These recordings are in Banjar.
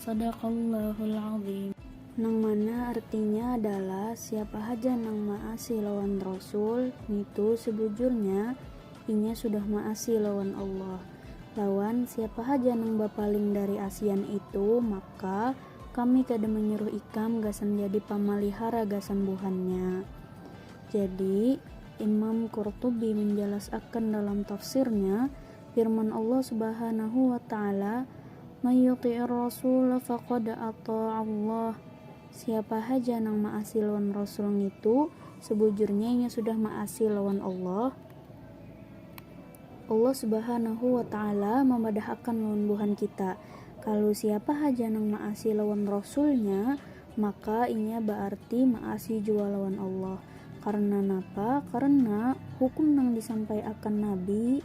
Shadaqallahul Adzim. Nang mana artinya adalah siapa haja nang maasi lawan Rasul ngitu sebujurnya inya sudah maasi lawan Allah, lawan siapa haja nang bapaling dari asian itu maka kami kada menyuruh ikam gasan jadi pamalihara gasan buhannya. Jadi, Imam Qurtubi menjalasakan dalam tafsirnya, Firman Allah Subhanahu wa Ta'ala, May yuti'ir rasula faqad ata'allah, Siapa haja nang maasi lawan Rasul ngitu, sebujurnya inya sudah maasi lawan Allah. Allah Subhanahu wa Ta'ala mambadahakan lawan buhan kita, kalu siapa haja nang maasi lawan Rasulnya, maka inya baarti maasi jua lawan Allah. Karna napa? Karna hukum nang disampaiakan Nabi,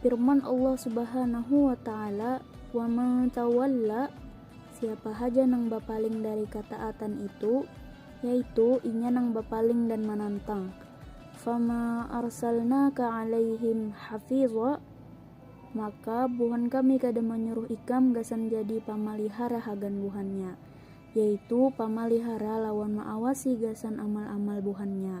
Firman Allah Subhanahu wa Ta'ala, "Wa man tawalla" Siapa haja nang bapaling dari kataatan itu, yaitu inya nang bapaling dan manantang. Fama arsalnaka alaihim hafidha maka buhan kami kada manyuruh ikam gasan jadi pamalihara hagan buhannya, yaitu pamalihara lawan maawasi gasan amal-amal buhannya.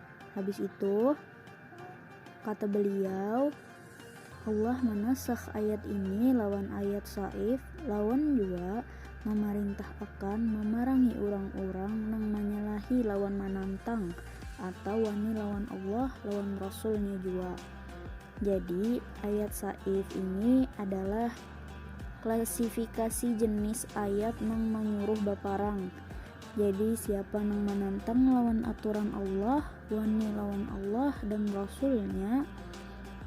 Habis itu, kata beliau, Allah manasakh ayat ini lawan ayat saif lawan jua mamarintah'akan mamarangi urang-urang nang manyalahi lawan manantang atau wani lawan Allah lawan Rasul-Nya jua. Jadi, ayat saif ini adalah klasifikasi jenis ayat nang manyuruh baparang. Jadi siapa nang manantang lawan aturan Allah wani lawan Allah dan Rasul-Nya,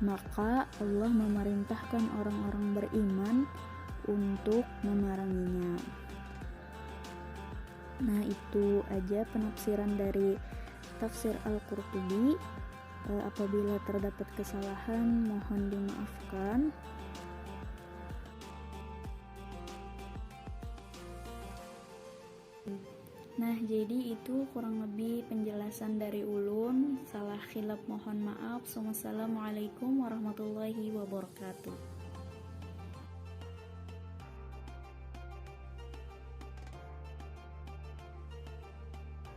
maka Allah mamarintahkan orang-orang beriman untuk mamaranginya. Nah, itu aja penafsiran dari tafsir Al-Qurtubi. E, apabila terdapat kesalahan, mohon dimaafkan. Nah jadi itu kurang lebih penjelasan dari ulun salah khilap mohon maaf sumassalamualaikum warahmatullahi wabarakatuh.